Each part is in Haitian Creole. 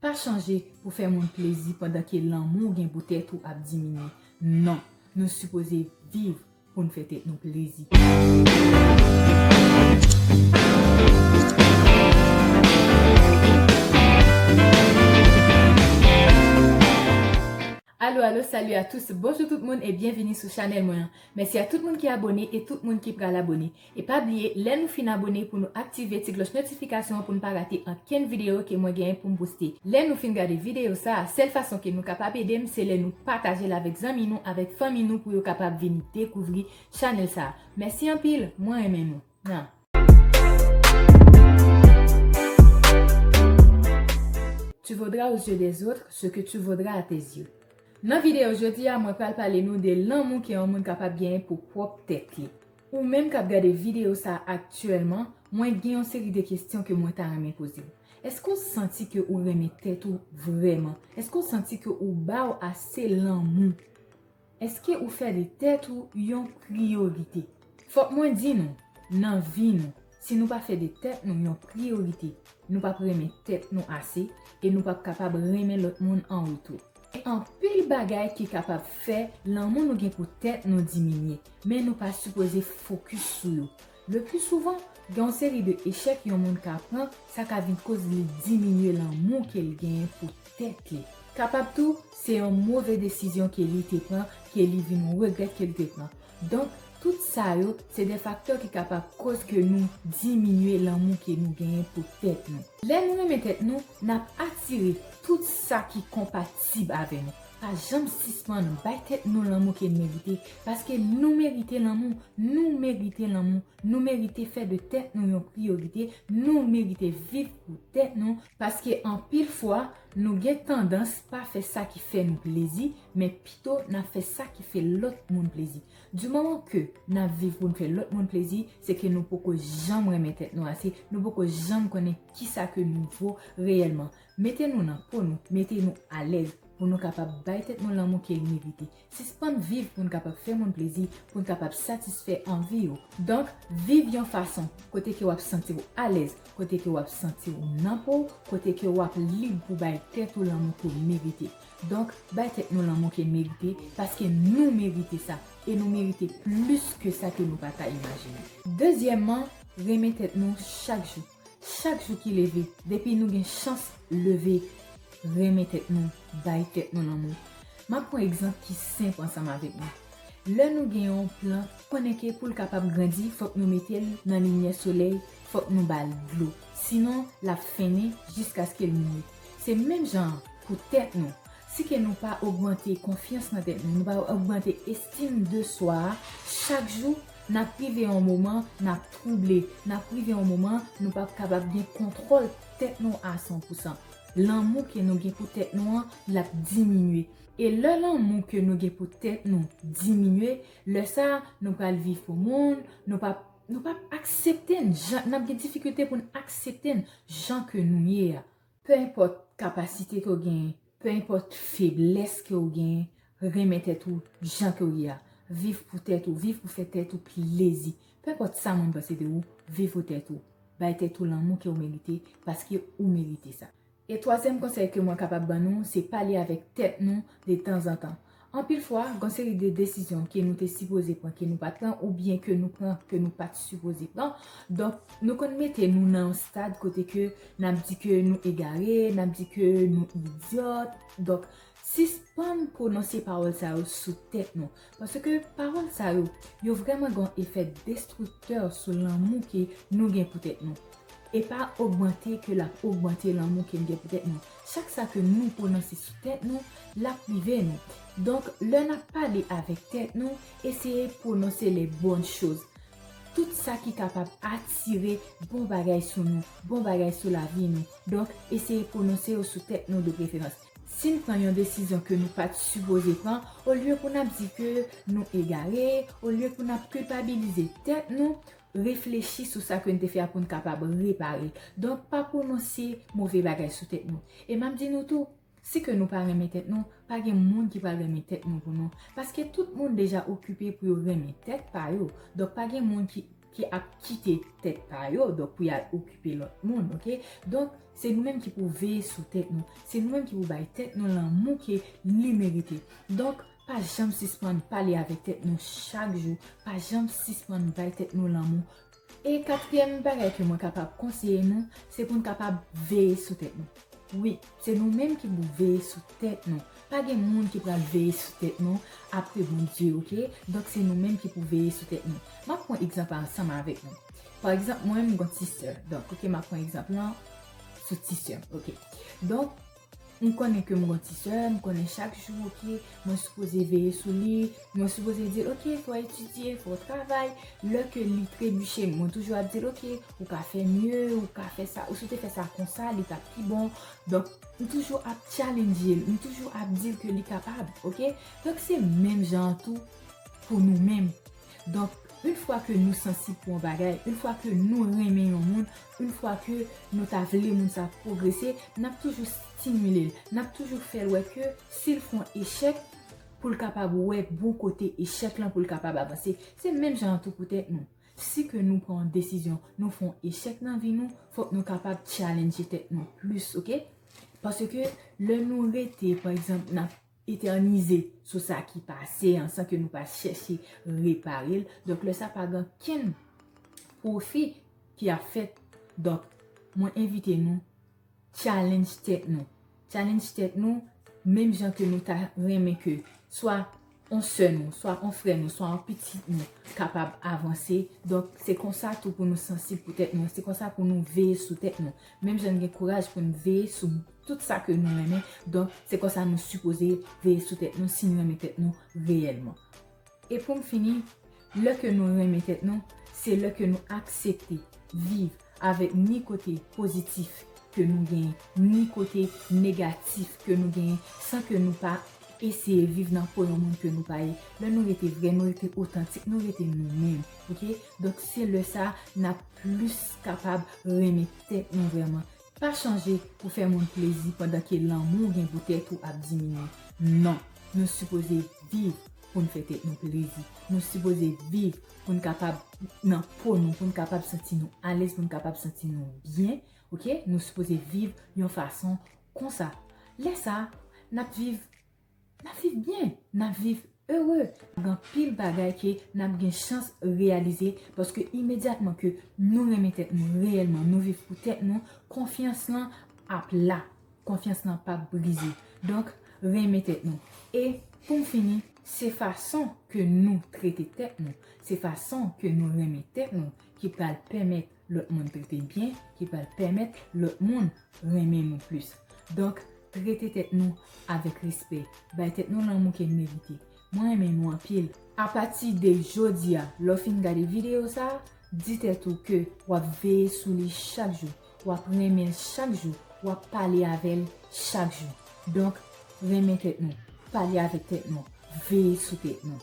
Pa chanje pou fè moun plezi pandan ke lanmou w gen pou tèt ou ap diminye. Non, nou sipoze viv pou n fè tèt nou plezi. Alo alo salut a tous bonjou tout moun e byenvini sou chanèl mwen an mèsi a tout moun ki abone e tout moun ki pral abone e pa bliye lè nou fin abone pou nou aktive ti kloch notifikasyon an pou nou pa rate ankenn video ke mwen genyen poum poste lè nou fin gade video sa a sèl fason ke nou kapab edem se lè nou patajel avèk zanmi nou avèk fanmi nou pou yo kapab vin dekouvri chanèl sa a mèsi anpil mwen renmen nou. nan. Tu vaudras aux yeux des autres ce que tu vaudras à tes yeux Nan videyo jodi a mwen pral pale nou de lanmou ke yon moun kapab genyen pou pwòp tèt li. Ou menm kap gade videyo sa aktyèlman, mwen gen yon seri de kestyon ke mwen ta renmen poze w. Eske w santi ke ou renmen tèt ou vrèman? Eske w santi ke ou ba w ase lanmou? Eske ou fè de tèt ou yon priyorite? Fòk mwen di nou, nan vi nou, si nou pa fè de tèt nou yon priyorite, nou pap renmen tèt nou ase e nou pap kapab renmen lòt moun an retou. Gen anpil bagay ki kapab fè lanmou nou gen pou tèt nou diminye, men nou pa sipoze fokis sou yo. Lepli souvan, gen yon seri de echèk yon moun ka pran, sa ka vin koz li diminye lanmou ke l genyen pou tèt li. Kapab tou, se yon move desizyon ke li te pran ke li vin regrèt ke l te pran. Donk, tout sa yo, se de faktè ki kapab koz ke nou diminye lanmou ke nou genyen pou tèt nou. Lè nou renmen tèt nou, n ap atire tout sa ki konpatib avè nou. Pa janm sispann bay tèt nou lanmou ke n merite, paske nou merite lanmou, nou merite lanmou, nou merite fè de tèt nou yon priyorite, nou merite viv pou tèt nou, paske anpil fwa nou gen tandans pa fè sa ki fè nou plezi, men pito n ap fè sa ki fè lòt moun plezi. Du moman ke n ap viv pou n fè lòt moun plezi, se ke nou poko janm renmen tèt nou ase, nou poko janm konnen kisa ke nou vo reyèlman. Mete nou nan po nou, mete nou alèz pou nou kapab bay tèt nou lanmou ke li merite. Sispann viv pou n kapab fè moun plezi, pou n kapab satisfè anvi yo. Donk, viv yon fason kote ke w ap santi w alèz, kote ke w ap santi w nan po w, kote ke w ap lib pou bay tèt ou lanmou ke w merite. Donk, bay tèt nou lanmou ke merite, paske nou merite sa, e nou merite plis ke sa ke nou pa ta imajine. Dezyèmman, renmen tèt nou chak jou. Chak jou ki leve, depi nou gen chans leve renmen tèt nou, bay tèt nou lanmou. M ap pran egzanp ki senp ansanm avèk nou. Lè nou gen yon plant, konnen ke pou l kapab grandi, fòk nou mete l nan limyè solèy, fòk nou ba l dlo. Sinon, l ap fennen jiskaske l mouri. Se menm jan an pou tèt nou. Si ke nou pa ogmante konfyans nan tèt nou, nou pa ogmante estim de swa a chak jou, N ap rive yon moman n ap twouble. N ap rive yon moman nou p ap kapab gen kontwòl tèt nou a san pou san. Lanmou ke nou gen pou tèt nou an, l ap diminye. E lè lanmou ke nou gen pou tèt nou diminye, lè sa a, nou pral viv pou moun, nou p ap, nou p ap aksepte n jan, n ap gen difikilte pou n aksepte n jan ke nou ye a. Pe enpòt kapasite ke w genyen, pe enpòt feblès ke w genyen, renmen tèt ou jan ke w ye a. Viv pou tèt ou, viv pou fè tèt ou plezi. Pe enpòt sa moun panse de ou, viv pou tèt ou. Bay tèt ou lanmou ke w merite, paske ou merite sa. E twazyèm konsèy ke mwen kapab ban nou, se pale avèk tèt nou de tanzantan. Anpil fwa, gon seri de desizyon ke nou te sipoze pran ke nou pat pran oubyen ke nou pran ke nou pat sipoze pran. Donk, nou konn mete nou nan yon stad kote ke nap di ke nou egare, nap di ke nou idiot. Donk, sispann pwononse pawòl sa yo sou tèt nou. Paske pawòl sa yo, yo vreman gon efè destructeur sou lanmou ke nou gen pou tèt nou. E pa ogmante ke lap ogmante lanmou ke n gen pou tèt nou. Chak sa ke nou pwononse sou tèt nou, lap rive nou. Donk, lè nap pale avèk tèt nou, eseye pwononse les bonnes choses. Tout sa ki kapab atire bon bagay sou nou, bon bagay sou lavi nou. Donk, eseye pwononse yo sou tèt nou de preferans. Si n pran yon desizyon ke nou pat sipoze pran, olye pou nap di ke nou egare, olye pou nap kilpabilize tèt nou, reflechi sou sa ke n te fè a pou n kapab repare. Donk, pa pwononse move bagay sou tèt nou. E m ap di nou tou, si ke nou pa renmen tèt nou, pa gen moun ki pral renmen tèt nou pou nou. Paske tout moun deja okipe pou yo renmen tèt pa yo. Donk, pa gen moun ki ap kite tèt pa yo, donk pou y al okipe lòt moun, ok? Donk, se nou menm ki pou veye sou tèt nou. Se nou menm ki pou bay tèt nou lanmou ke li merite. Donk. Pa janm sispann pale avèk tèt nou chak jou, pa janm sispann bay tèt nou lanmou. E katriyèm bagay ke mwen kapab konseye nou, se pou nou kapab veye sou tèt nou. Wi, se nou menm ki pou veye sou tèt nou. Pa gen moun ki pral veye sou tèt nou apre Bondye, oke. Donk se nou menm ki pou veye sou tèt nou. M ap pran egzanp la ansanm avèk nou. Pa egzanp mwen, m gen yon ti sè. Donk, oke, m ap pran egzanp lan sou ti sè m, oke. Donk, M konnen ke m gon ti sè, m konnen chak jou ok, mwen sipoze veye sou li, mwen sipoze di l ok fò etidye, fò travay, lè ke li trebiche mwen toujou ap di l ok ou ka fè mye, ou ka fè sa, ou si w te fè sa konsa li tap pi bon, donk m toujou ap tchalendje l, m toujou ap di l ke li kapab ok, donk se menm jan an tou pou nou menm, donk un fwa ke nou sansib pou yon bagay, un fwa ke nou renmen yon moun, Une fwa ke nou ta vle moun sa pwogrese, n ap toujou stimile l, n ap toujou fè l wè ke si l fon echèk, pou l kapab wè bon kote echèk lan pou l kapab avanse. Se menm jan an tou pou tèt nou. Si ke nou pran yon desizyon, nou fon echèk nan vi nou, fòk nou kapab tchalendje tèt nou plis, oke. Paske lè nou rete, pa egzanp, n ap. Eternize sou sa ki pase an san ke nou pa chèche repare l. Donk lè sa pa gen okenn pwofi ki ap fèt. Donk mwen envite nou challenge tèt nou. Challenge tèt nou menm jan ke nou ta renmen ke swa on sè nou, swa on frè nou, swa on pitit nou kapab avanse. Donk se konsa tou pou nou sansib pou tèt nou. Se konsa pou nou veye sou tèt nou. Menm jan n gen kouraj pou n veye sou tout sa ke nou renmen, donk se konsa nou sipoze veye sou tèt nou si n renmen tèt nou reyèlman. E pou m fini, lè ke nou renmen tèt nou, se lè ke nou aksepte viv avèk ni kote pozitif ke nou genyen, ni kote negatif ke nou genyen, san ke nou pa eseye viv nan po yon moun ke nou pa ye. Lè nou rete vrè, nou rete otantik, nou rete nou menm, ok? Donk se lè sa a n ap plis kapab renmen tèt nou vrèman. Pa chanje pou fè moun plezi pandan ke lanmou w gen pou tèt ou ap diminye. Non, nou sipoze viv pou n fè tèt nou plezi. Nou sipoze viv pou n kapab nan po nou, pou n kapab santi nou alèz, pou n kapab santi nou byen. Ok, nou sipoze viv yon fason konsa. Lè sa, n ap viv. Nap viv byen, nap viv ere, gen anpil bagay ke nap gen chans reyalize paske imedyatman ke nou renmen tèt nou reyèlman, nou viv pou tèt nou, konfyans lan ap la, konfyans lan pap brize. Donk, renmen tèt nou. E pou m fini, se fason ke nou trete tèt nou, se fason ke nou renmen tèt nou ki pral pèmèt lòt moun trete byen ki pral pèmèt lòt moun renmen nou plis. Donk, trete tèt nou avèk respè, bay tèt nou lanmou ke n merite. Mwen renmen nou anpil. Apati de jodi a, lè w fin gade videyo sa a, di tèt ou ke w ap veye sou li chak jou, w ap renmen l chak jou, w ap pale avè l chak jou. Donk, renmen tèt nou, pale avèk tèt nou, veye sou tèt nou.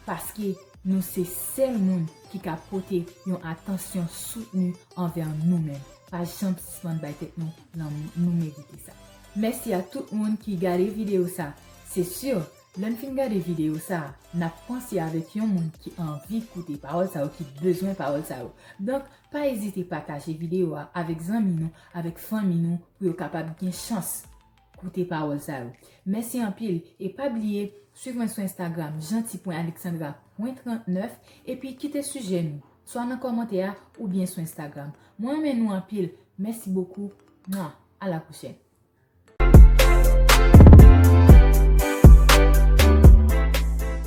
Paske nou se sèl moun ki ka pote yon atansyon soutni anvè nou menm. Pa janm sispann bay tèt nou lanmou, nou merite sa. Mèsi a tout moun ki gade videyo sa. Se si, lè n fin gade videyo sa, n ap panse avèk yon moun ki anvi koute pawòl sa yo, ki bezwen pawòl sa yo. Donk, pa ezite pataje videyo a avèk zanmi nou, avèk fanmi nou, pou yo kapab gen chans Koute pawòl sa yo. Mèsi anpil e pa bliye swiv mwen sou Instagram janti.alexandra.39 epi kite sijè nou swa nan kòmantè a oubyen sou Instagram. Mwen renmen nou anpil. Mèsi bokou. Mwa! A la pwochèn.